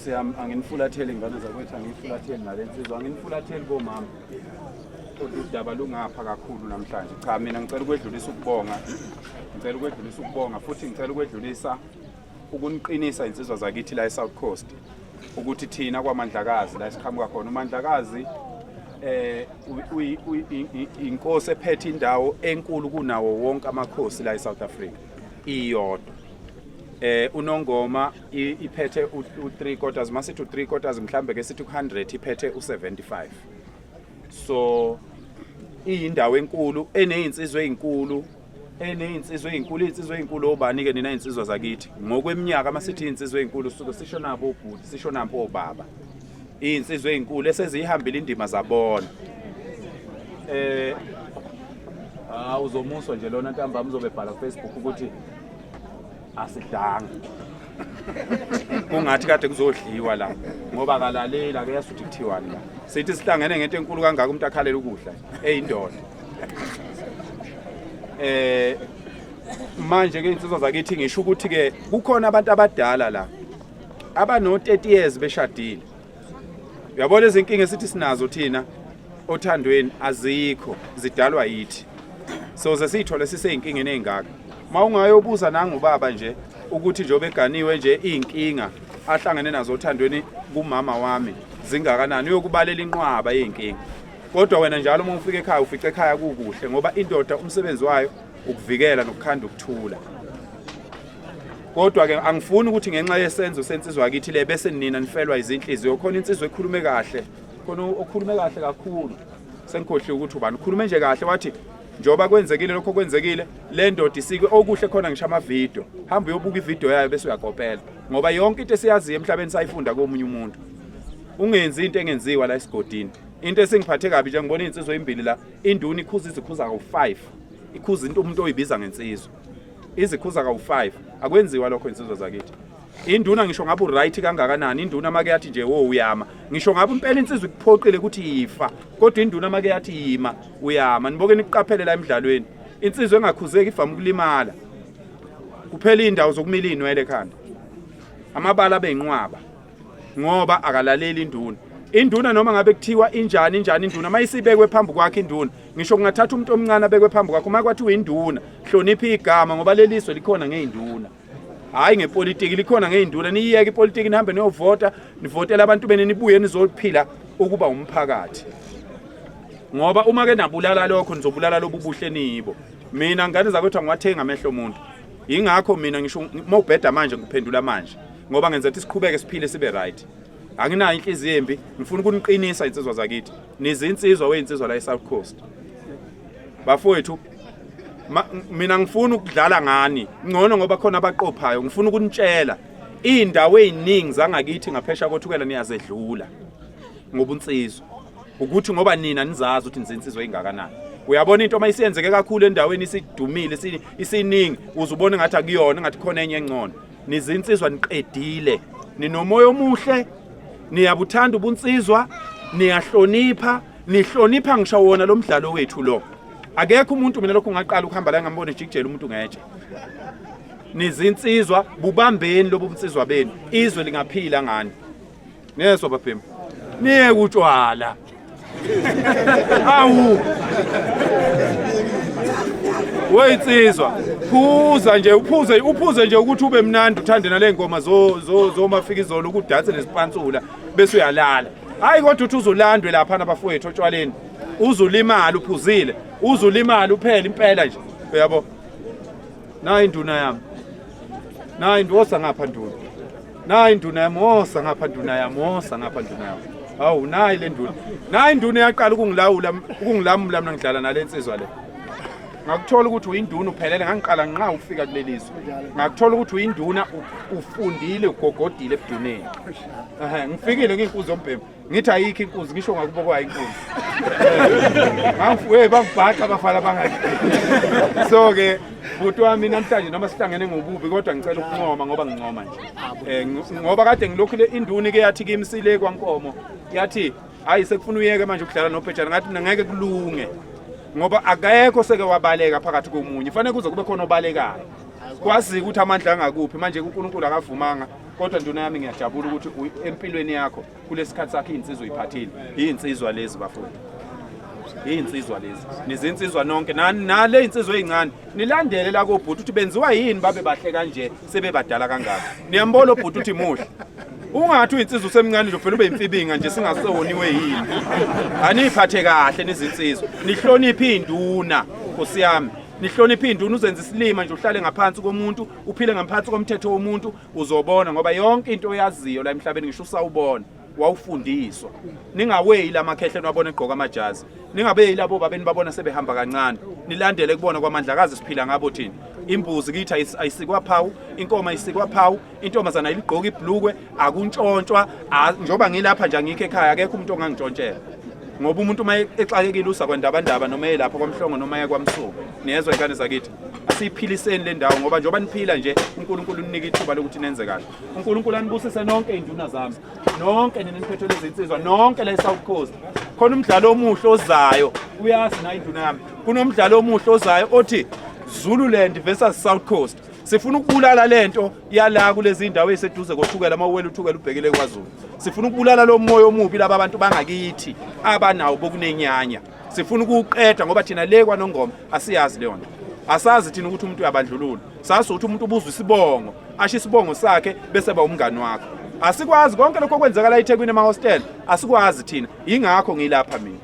siyami anginifulatheli ingane zakwethu angiyifulatheli nale nsizwa anginifulatheli komama kodwa udaba lungapha kakhulu namhlanje cha mina ngicela ukwedlulisa ukubonga ngicela ukwedlulisa ukubonga futhi ngicela ukwedlulisa ukuniqinisa insizwa zakithi la e-south coast ukuthi thina kwamandlakazi la esiqhamuka khona umandlakazi eh inkosi ephethe indawo enkulu kunawo wonke amakhosi la e-south africa iyodwa eh unongoma iphethe u3 quarters masithi u3 quarters mhlambe ke sithi ku100 iphethe u75 so iyindawo enkulu enezinsizwe ezinkulu enezinsizwe ezinkulu izinsizwe ezinkulu obani ke nina izinsizwa zakithi ngokweminyaka masithi izinsizwe ezinkulu suke sisho nabo ubhuti sisho nampo obaba iyinsizwa ezinkulu esezihambile indima zabona eh ah uzomuswa nje lona ntambama uzobe bhala ku Facebook ukuthi asidanga kungathi kade kuzodliwa la ngoba akalaleli ake yazi ukuthi kuthiwani la sithi sihlangene ngento enkulu kangaka umuntu akhalela ukudla eyindoda eh manje ke insizwa zakithi ngisho ukuthi ke kukhona abantu abadala la abano 30 years beshadile uyabona izinkinga esithi sinazo thina othandweni azikho zidalwa yithi so ze siyithole siseyinkinga enengaka mawungayobuza nangu baba nje ukuthi nje obeganiwe nje izinkinga ahlangene nazo othandweni kumama wami zingakanani uyokubalela inqwaba izinkinga kodwa wena njalo uma ufika ekhaya ufica ekhaya kukuhle ngoba indoda umsebenzi wayo ukuvikela nokukhanda ukuthula kodwa ke angifuni ukuthi ngenxa yesenzo sensizwa kithi le bese nina nifelwa izinhliziyo khona insizwa ekhulume kahle khona okhulume kahle kakhulu sengikhohliwe ukuthi ubani ukhulume nje kahle wathi njengoba kwenzekile lokho kwenzekile le ndoda isike okuhle khona ngisho amavidiyo hamba uyobuka ividiyo yayo bese uyakopela ngoba yonke into esiyaziyo emhlabeni sayifunda komunye umuntu ungenzi into engenziwa la esigodini into esingiphathe kabi nje ngibona iy'nsizwa ezimbili la induna ikhuza izikhuza ngo-five ikhuza into umuntu oyibiza ngensizwa izikhuza kawu-5 akwenziwa lokho insizwa zakithi induna ngisho ngabe uright kangakanani induna make yathi nje wo uyama ngisho ngabe impela insizwa ikuphoqile ukuthi yifa kodwa induna make yathi yima uyama niboke nikuqaphele la emidlalweni insizwa engakhuzeki ivama ukulimala kuphela indawo zokumila inwele ekhanda amabala beyinqwaba ngoba akalaleli induna induna noma ngabe kuthiwa injani injani induna uma isibekwe phambi kwakhe induna ngisho kungathatha umuntu omncane abekwe phambi kwakhe uma kwathiwa induna hlonipha igama ngoba leli zwe likhona ngey'nduna hhayi ngepolitiki likhona ngey'nduna niyiyeke ipolitiki nihambe niyovota nivotele abantu bene nibuye nizophila ukuba umphakathi ngoba uma ke nabulala lokho nizobulala lobu buhle niyibo mina ngane zakwethu angiwathengi amehlo omuntu yingakho mina ngisho mawubheda manje ngiphendula manje ngoba ngenza ukuthi siqhubeke siphile sibe right anginayo inhliziyo embi ngifuna ukuniqinisa insizwa zakithi nizinsizwa weyinsizwa la eSouth Coast bafowethu mina ngifuna ukudlala ngani ngcono ngoba khona abaqophayo ngifuna ukunitshela izindawo eziningi zangakithi ngaphesha kothukela niyazedlula ngobunsizwa ukuthi ngoba nina nizazi ukuthi nizinsizwa engakanani uyabona into uma isiyenzeke kakhulu endaweni isidumile isiningi uzubona ngathi akuyona ngathi khona enye engcono nizinsizwa niqedile ninomoya omuhle niyabuthanda ubunsizwa niyahlonipha nihlonipha ngisho wona lo mdlalo wethu lo akekho umuntu mina lokho ngaqala ukuhamba la ngambona ejikijela umuntu ngetshe nizinsizwa bubambeni lobu bunsizwa benu izwe lingaphila ngani Niyeswa bafemu. Niye kutshwala. Awu. Weyinsizwa, phuza nje, uphuze, uphuze nje ukuthi ube mnandi uthande nale ngoma zo zo zomafika izolo ukudanse nesipansula bese uyalala. Hayi kodwa uthi uzolandwe lapha nabafowethu otshwaleni. Uzulimala uphuzile, uzulimala uphela impela nje. Uyabo? Nayi induna yami. Nayi ndosa ngapha nduna. nayi induna yamosa ngapha nduna yamosa ngapha nduna yami hawu nayi le nduna nayi induna yaqala ukungilawula ukungilamula mina ngidlala nale nsizwa le ngakuthola ukuthi uyinduna uphelele ngangiqala nqa ukufika kuleli zwe ngakuthola ukuthi uyinduna ufundile ugogodile ebuduneni ngifikile ngiyinkuzi yombhemu ngithi ayikho inkunzi ngisho ngakubo kwayo inkunzi we bangibhaqa abafana bangaki so-ke bhuti wami namhlanje noma sihlangene ngobubi kodwa ngicela ukuncoma ngoba ngincoma nje um ngoba kade ngilokhu le induni ke yathi kimsile kwankomo yathi hhayi sekufuna uyeke manje ukudlala nobhejana ngathi mina ngeke kulunge ngoba akekho seke wabaleka phakathi komunye fanele kuze kube khona obalekayo kwazi ukuthi amandla angakuphi manje uNkulunkulu akavumanga kodwa nduna yami ngiyajabula ukuthi empilweni yakho kulesikhathi sakhe insizwa uyiphathile yinsizwa lezi bafundi yinsizwa lezi nizinsizwa nonke nale insizwa ezincane nilandele la kobhuti ukuthi benziwa yini babe bahle kanje sebebadala kangaka niyambona obhuti ukuthi muhle ungathi uyinsizwa usemncane nje ufela ube imfibinga nje singasewoniwe yini aniyiphathe kahle nizinsizwa nihloniphe induna nkosiyami nihloniphe induna uzenza isilima nje uhlale ngaphansi komuntu uphile ngaphansi komthetho womuntu uzobona ngoba yonke into oyaziyo la emhlabeni ngisho usawubona wawufundiswa ningaweyi la makhehle niwabona egqoka amajazi ningabeyi labo babeni babona sebehamba kancane nilandele kubona kwamandla kazi siphila ngabo thina imbuzi kithi ayisikwa phawu inkoma isikwa phawu intombazana iligqoka ibhlukwe akuntshontshwa njengoba ngilapha nje angikho ekhaya akekho umuntu ongangintshontshela ngoba umuntu uma exakekile usa kwandabandaba noma eyelapha kwamhlongo noma eyekwamsuku niyezwa inkane zakithi siyiphiliseni le ndawo ngoba njengoba niphila nje uNkulunkulu unika ithuba lokuthi nenze kahle uNkulunkulu anibusise nonke iy'nduna zami nonke nina niphethe lezinsizwa nonke la e-south coast khona umdlalo omuhle ozayo uyazi nayo induna yami kunomdlalo omuhle ozayo othi zululand versus south coast sifuna ukubulala lento yala kulezi ndawo eziseduze kothukela uma uwela uthukela ubhekile kwazulu sifuna ukubulala lo moya omubi laba abantu bangakithi abanawo bokunenyanya sifuna ukuwuqeda ngoba thina le kwanongoma asiyazi leyo nto asazi thina ukuthi umuntu uyabandlulula sazi ukuthi umuntu ubuzwa isibongo asho isibongo sakhe bese ba umngani wakho asikwazi konke lokho okwenzakala eThekwini emahostel asikwazi thina yingakho ngilapha mina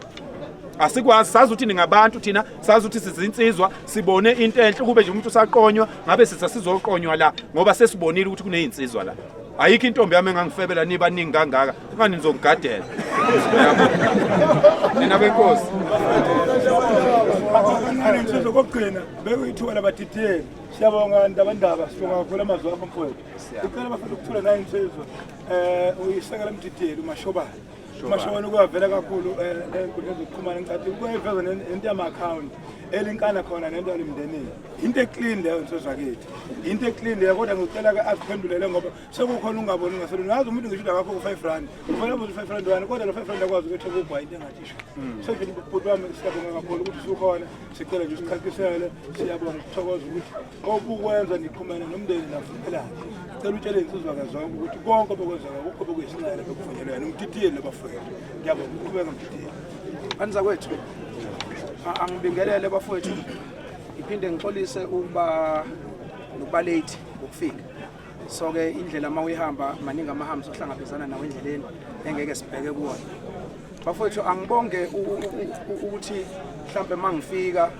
asikwazi sazi ukuthi ningabantu thina sazi ukuthi sizinsizwa sibone into enhle kube nje umuntu usaqonywa ngabe sitha sizoqonywa la ngoba sesibonile ukuthi kunezinsizwa la ayikho intombi yami engangifebela nibaningi kangaka Manje ngizokugadela. Yabo. Nina benkosi. Ngane insizwa kokugcina beke ithuba labadidiyeli. Siyabonga ndabandaba sibonga kakhulu amazwi akho mfowethu. Ngicela bafuna ukuthola nayo insizwa eh uyisekela umdidiyeli uMashobana. Umashobana ukuyavela kakhulu eh enkundleni zokuxhumana ngicathi ukuyiveza nento yama account elinkana khona nento yalimndenini. Into eclean leyo insizwa kithi. Into eclean leyo kodwa ngicela ke akuphendulele ngoba sekukhona ungaboni ngasolo nazi umuntu ngisho udaba wakho ku-five rand ufana buza u-five rand wani kodwa lo five rand akwazi ukuthi ekugwa into engathisho hmm. so nje bhuti wami siyabonga kakhulu ukuthi sukhona sicela nje usichakisele siyabonga ukuthokoza ukuthi obukwenza niqhumene nomndeni nafunelani cela utshele insizwa kazonke ukuthi konke obekwenzeka kukho bekuyisinqele bekuvunyelwe yena umtitiyeli labafowethu ngiyabonga ukuqhubeka mtitiyeli andiza kwethu angibingelele bafowethu ngiphinde ngixolise ukuba nokuba late ngokufika so ke indlela uma uyihamba maningi amahambi sohlangabezana nawo endleleni engeke sibheke kuwona bafowethu angibonge ukuthi mhlawumbe uma ngifika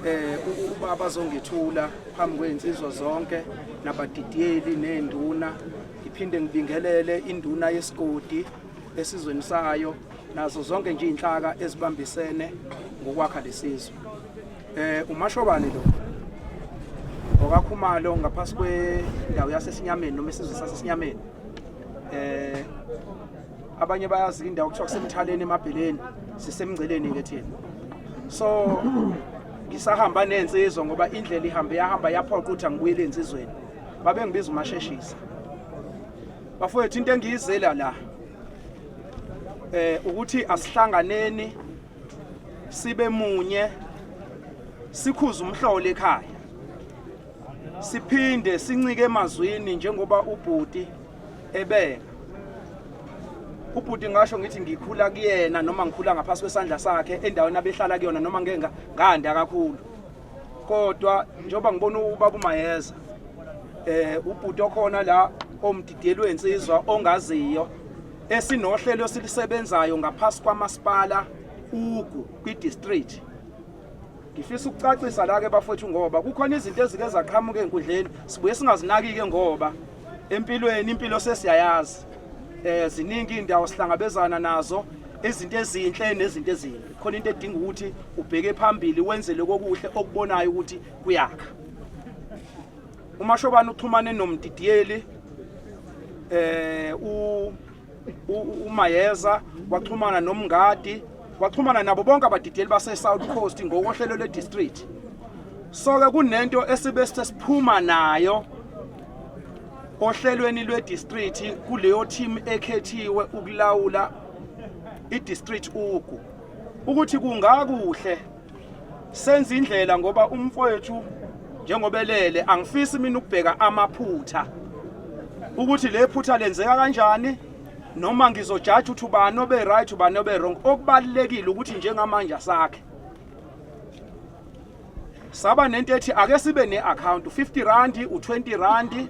eh uba bazongithula phambi kwey'nsizwa zonke nabadidiyeli ney'nduna ngiphinde ngibingelele induna yesigodi esizweni sayo nazo zonke nje iy'nhlaka ezibambisene ngokwakha lesizwe Eh umashobane lo. Okakhumalo ngaphasi kwendawo yasesinyameni noma isizwe sasesinyameni. Eh abanye bayazi indawo kuthiwa kusemthaleni emabheleni sisemngceleni ke thina. So ngisahamba nensizwa ngoba indlela ihambe yahamba yaphoqa ukuthi angibuyele ensizweni. Babe ngibiza umasheshisa. Bafowethu into engiyizela la eh ukuthi asihlanganeni sibe munye sikhuza umhlolo ekhaya siphinde sincike emazwini njengoba ubhuti ebeka ubhuti ngasho ngithi ngikhula kuyena noma ngikhula ngaphansi kwesandla sakhe endaweni abehlala kuyona noma ngeke ngandi akakhulu kodwa njengoba ngibona ubaba umayeza eh ubhuti okhona la omdidiyelwe insizwa ongaziyo esinohlelo esilisebenzayo ngaphasi kwamasipala ugu kwi-district ngifisa ukucacisa la-ke bafowethu ngoba kukhona izinto ezike zaqhamuka enkundleni sibuye singazinaki-ke ngoba empilweni impilo sesiyayazi um ziningi iy'ndawo sihlangabezana nazo izinto ezinhle nezinto ezimbi khona into edinga ukuthi ubheke phambili wenzele kokuhle okubonayo ukuthi kuyakha UMashobane uxhumane nomdidiyeli eh u uMayeza waxhumana nomngadi waxhumana nabo bonke abadidiyeli base South Coast ngokohlelo le district so ke kunento esibe sesiphuma nayo ohlelweni lwe district kuleyo team ekhethiwe ukulawula i district ugu ukuthi kungakuhle senza indlela ngoba umfowethu njengoba elele angifisi mina ukubheka amaphutha ukuthi le phutha lenzeka kanjani noma ngizojaja ukuthi ubani obe right ubani obe wrong okubalekile ukuthi njengamanje asakhe saba nento ethi ake sibe neaccount 50 rand u20 rand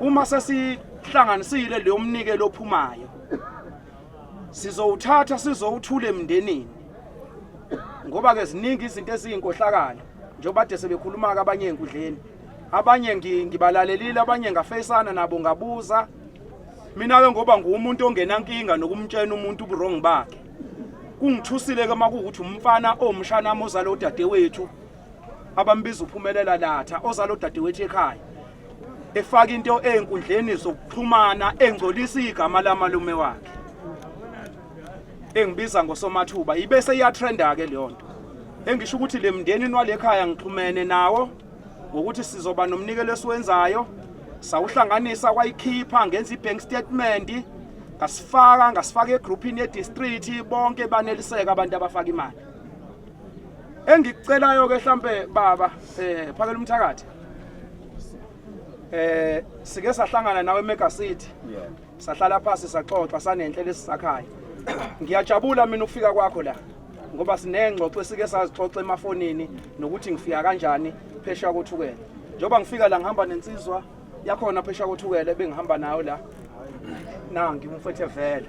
uma sesihlanganisile leyo mnikelo ophumayo sizowuthatha sizowuthula emndenini ngoba ke ziningi izinto eziyinkohlakalo njengoba kade sebekhuluma-ke abanye enkundleni abanye ngibalalelile abanye ngafeyisana nabo ngabuza mina-ke ngoba nguwumuntu ongenankinga nokumtshena umuntu uburong bakhe kungithusile-ke uma kuwukuthi umfana owumshanami ozale udadewethu abambiza uphumelela latha ozalo dadewethu ekhaya efaka into ezinkundleni zokuxhumana engcolisa igama lamalume wakhe engibiza ngosomathuba ibe seyatrenda ke leyo nto engisho ukuthi le mndeni nwalekhaya ngixhumene nawo ngokuthi sizoba nomnikelo esiwenzayo sawuhlanganisa kwayikhipha ngenza ibank statement ngasifaka ngasifaka egroupini yedistrict bonke baneliseka abantu abafaka imali engikucelayo ke mhlambe baba eh phakela umthakathi eh sike sahlangana nawe eMega City sahlala phansi saxoxa sanenhle lesisakhayo ngiyajabula mina ukufika kwakho la ngoba sinengxoxo esike sazixoxa emafonini nokuthi ngifika kanjani phesha kothukela njengoba ngifika la ngihamba nensizwa yakhona phesha kothukela ebengihamba nayo la nangi umfethe vele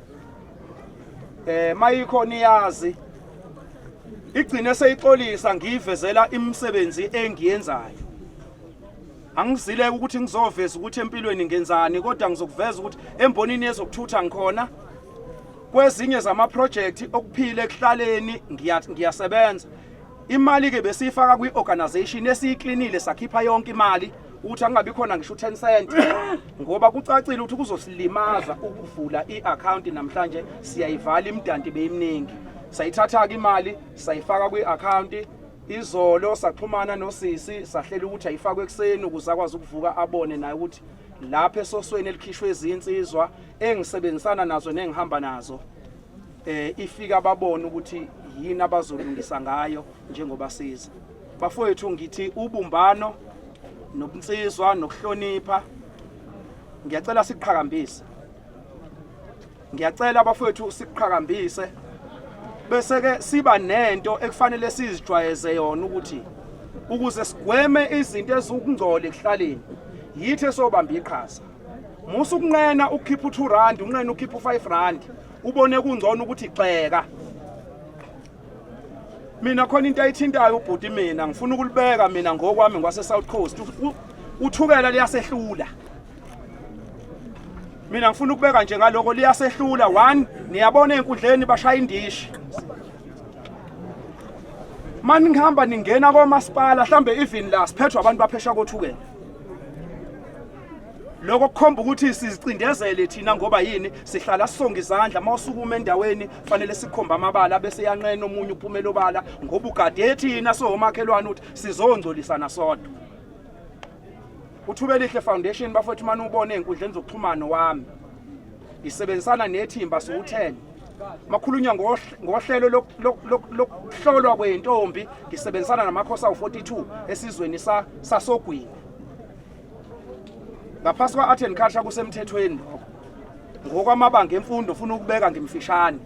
eh mayikhona iyazi igcine seyixolisa ngiyivezela imisebenzi engiyenzayo angizile ukuthi ngizoveza ukuthi empilweni ngenzani kodwa ngizokuveza ukuthi embonini yezokuthutha ngikhona kwezinye zama project okuphile ekuhlaleni ngiyasebenza Imali ke besiyifaka kwi organization esiyiklinile sakhipha yonke imali ukuthi angabi khona ngisho 10 cent ngoba kucacile ukuthi kuzosilimaza ukuvula iaccount namhlanje siyayivala imdanti beyimningi sayithatha ke imali sayifaka kwi account izolo saxhumana nosisi sahlela ukuthi ayifakwe ekseni ukuze akwazi ukuvuka abone naye ukuthi lapha esosweni elikhishwe izinsizwa engisebenzisana nazo nengihamba nazo eh ifika babone ukuthi yini abazolungisa ngayo njengoba siza bafowethu ngithi ubumbano nobunsizwa nokuhlonipha ngiyacela siqhakambise ngiyacela abafowethu siqhakambise bese ke siba nento ekufanele sizijwayeze yona ukuthi ukuze sigweme izinto ezukungcola ekuhlaleni yithi esobamba iqhaza musa ukunqena ukhipha u2 rand unqena ukhipha u5 rand ubone kungcono ukuthi gxeka mina khona into ayithintayo ubhuti mina ngifuna ukulibeka mina ngokwami ngwase South Coast uthukela liyasehlula mina ngifuna ukubeka nje ngaloko liyasehlula one niyabona enkundleni bashaya indishi mani ngihamba ningena komasipala mhlambe even la siphethwe abantu baphesha kothukela Lokho kukhomba ukuthi sizicindezele thina ngoba yini sihlala sonke izandla mawusukuma endaweni fanele sikhomba amabala bese yanqena omunye uphumela obala ngoba ugade thina sohomakhelwane ukuthi sizongcolisana sodwa. Uthube lihle foundation bafowethu manje ubone enkundleni zokuxhumana wami. Isebenzisana nethimba siwuthele. Makhulunywa ngohlelo lokuhlolwa kwentombi ngisebenzisana namakhosi awu 42 esizweni sasogwini. ngaphasi kwa-art and culture kusemthethweni lokho ngokwamabanga emfundo ufuna ukubeka ngimfishane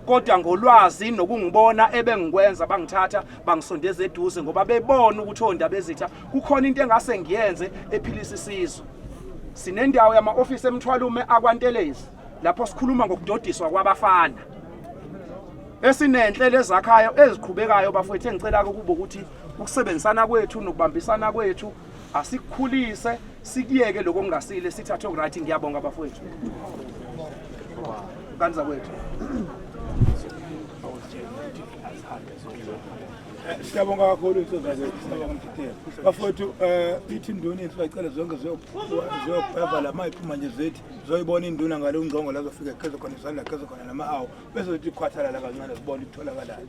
kodwa ngolwazi nokungibona ebengikwenza bangithatha bangisondeza eduze ngoba bebona ukuthi ondaba ezitha kukhona into engase ngiyenze ephilisa isizwe sinendawo yama-ofisi emthwalume akwantelezi lapho sikhuluma ngokudodiswa kwabafana esinenhlelo ezakhayo eziqhubekayo bafowethu engicela-ke ukuba ukuthi ukusebenzisana kwethu nokubambisana kwethu asikhulise sikuyeke lokho kungasile sithathe okuright ngiyabonga bafowethu kanti zakwethu siyabonga kakhulu intozaze siyabonga mthithela bafowethu um ithi induna inhle bacela zonke ziyokubheva la ma iphuma nje zithi zoyibona induna ngale ungqongo lazofika khezo khona isandla khezo khona nama-awu bese zithi ikhwathalala kancane zibona ikutholakalayo